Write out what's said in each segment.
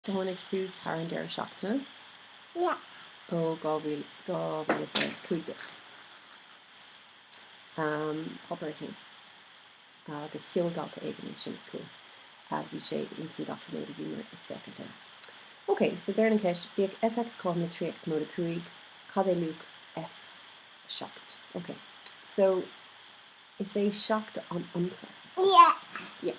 Tháinig suas thar an deireadh seachtaine ó 2015 um, páipéar a haon agus sheol dalta éigin é sin chugam. a bhí sé ins an doiciméad a bhíomar ag féachaint air. OK, so deireann an cheist, bíodh fx cothrom le 3 x móide 5, cad é luach F7? OK, so is é 7 an ionchur. Yeah. Yeah.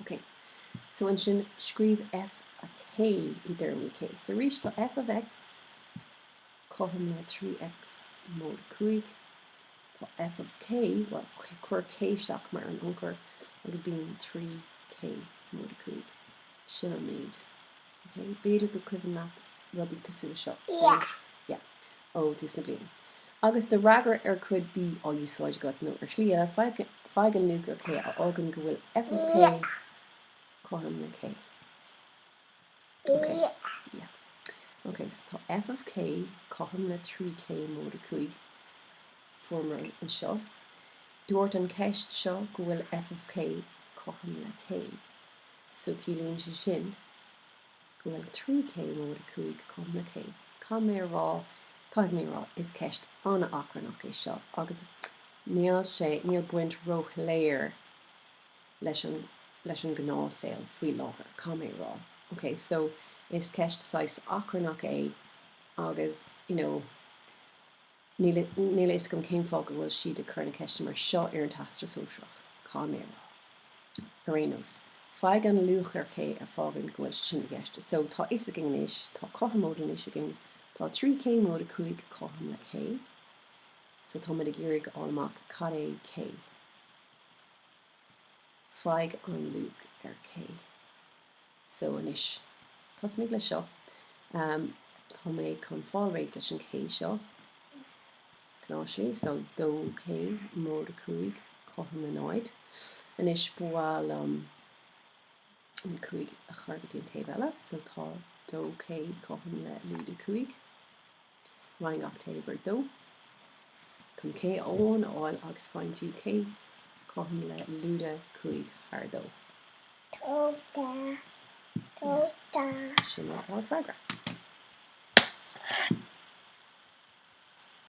OK. So ansin, scríobh F of K i dtéarmaí K. So arís, tá F of X cothrom le 3X móide 5. Tá F of K, bhuel, cuir K isteach mar an ionchur agus bíonn 3K móide 5. Sin an méid. OK? B'fhéidir gur cuimhin leat rudaí cosúil le seo, Yeah. Yeah. ó thús na bliana. Agus do fhreagra ar cuid B á úsáid agat, nó ar shlí eile, faigh an luach ar K a fhágann go bhfuil F of K cothrom le K. Ok, yeah. Ok, so tá F of K cothrom le 3K móide 5. Fuaireamar é anseo. Dúirt an cheist seo go bhfuil F of K cothrom le K. So ciallaíonn sé sin. go bhfuil 3K móide 5 cothrom le K, caithfidh mé a rá, caithfidh mé a rá, is ceist an-achrannach é seo agus níl sé, níl baint róshoiléir leis an, leis an ngnáthshaol faoi láthair, caithfidh mé a rá. Ok, so, is ceist saghas achrannach é agus, you know, Níl a fhios agam cén fáth go bhfuil siad ag cur na ceiste mar seo ar an Teastas Sóisearach. Caithfidh mé a rá. Ar aon nós, faigh an luach ar K a fhágann go bhfuil sé sin i gceist. So, tá fhios againn anois, tá cothromóid anois againn. Tá 3K móide 5 cothrom le K. So, táimid ag iarraidh a fháil amach cad é K. Faigh an luach ar K. So anois, tosnaigh leis seo. Tá mé chun fáil réidh leis an K seo, cnáimhsí, so 2K móide 5 cothrom le 0. Anois, ba mhaith liom an 5 a chur go dtí an taobh eile, so tá 2K cothrom le lúide 5. Ryan October 2 Chun cé amháin a fháil agus roinnt í cé cothrom le lúide cúig thar dó. dócha dócha. Sin lá ár bhfreagra.